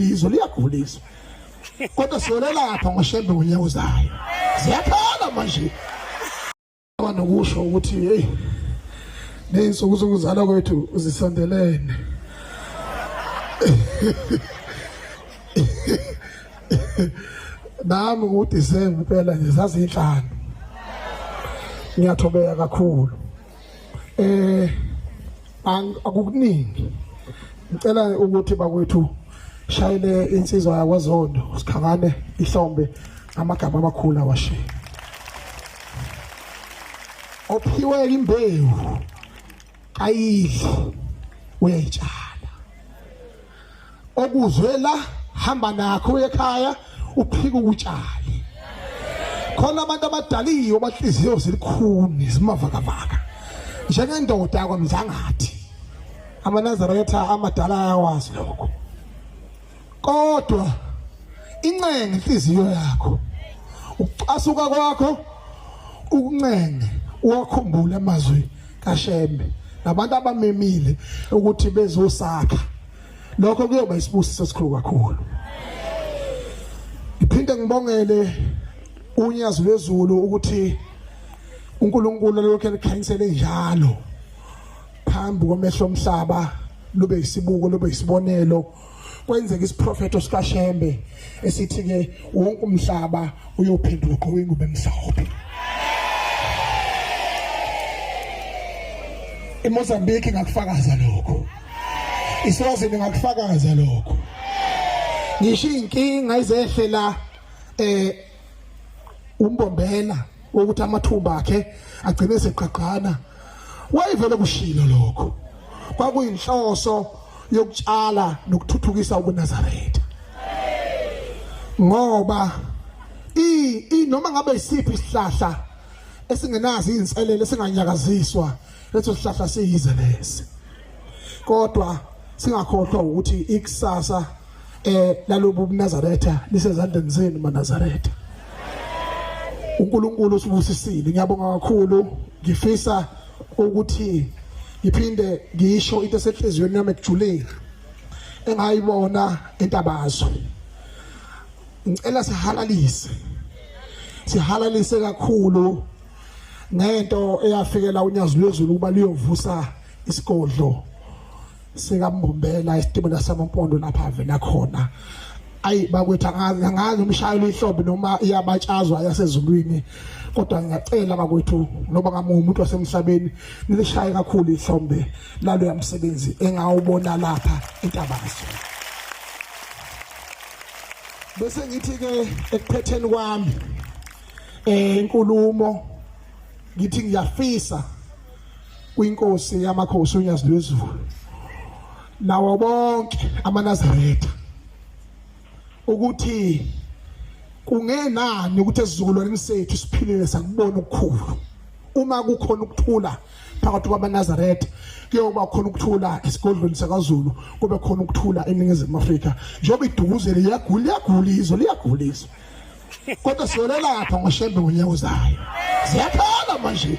izwe liyagulisa kodwa siyolelapha ngoshembe ngonyaka uzayo ziyakhala manje nokusho ukuthi hey neyinsuku zokuzalwa kwethu uzisondelene nami ngudisemba impela nje zazinhlanu ngiyathobeka kakhulu eh akukuningi ngicela ukuthi bakwethu shayele insizwa yakwazondo sikhangane ihlombe amagama amakhulu awashiye ophiwe imbewu ayidli uyayitshala okuzwe la hamba nakho uye ekhaya uphike ukutshale khona abantu abadaliwe abatliziyo zilikhuni zimavakavaka njengendoda yakwamzangathi amanazaretha amadala ayawazi lokho kodwa incenga inhliziyo yakho ukucasuka kwakho ukuncenga uwakhumbule amazwi kashembe nabantu abamemile ukuthi bezosakha lokho kuyoba isibusiso esikhulu kakhulu ngiphinde ngibongele unyazi lwezulu ukuthi uNkulunkulu lokho elikhanyisele njalo phambi komehlo omhlaba lube isibuko lube isibonelo kwenzeka isiprofeto sikaShembe esithi ke wonke umhlaba uyophenduka ugqoke ingubo emhlophe eMozambique ngakufakaza lokho isiwazi ningakufakaza lokho ngisho inkinga izehlela eh umbombela ukuthi amathumba akhe agcine seqaqana wayevele kushilo lokho kwakuyinhloso yokutshala nokuthuthukisa ubunazaretha ngoba i i noma ngabe isiphi isihlahla esingenazi inselele esinganyakaziswa leso sihlahla siyize lesi kodwa singakhohlwa ukuthi ikusasa eh lalobu bunazaretha lisezandleni zenu manazaretha uNkulunkulu usibusisile ngiyabonga kakhulu ngifisa ukuthi ngiphinde ngisho into esehliziyweni yami ekujulile engayibona entabazo ngicela sihalalise sihalalise kakhulu ngento eyafikela unyazi lwezulu ukuba liyovusa isigodlo sikambombela isitimela samampondo lapha avela khona ayi bakwethu angazi umshayeli ihlobo noma iyabatshazwa yasezulwini kodwa ngiyacela bakwethu noba ngamunye umuntu wasemhlabeni nilishaye kakhulu ihlombe lalo yamsebenzi engawubona lapha intabazo bese ngithi ke ekuphetheni kwami eh inkulumo ngithi ngiyafisa kwinkosi yamakhosi uNyazi lwezulu nawo bonke amanazaretha ukuthi kungenani ukuthi esizukulwaneni sethu siphilile sakubona ukukhulu uma kukhona ukuthula phakathi kwabanazaretha kuyoba khona ukuthula esigodlweni sakazulu kube khona ukuthula eningizimu afrika njengoba idukuzele liyagula liyagula izwe liyagula izwe kodwa siyolelapha ngoshembe ngonyaka uzayo ziyakhala manje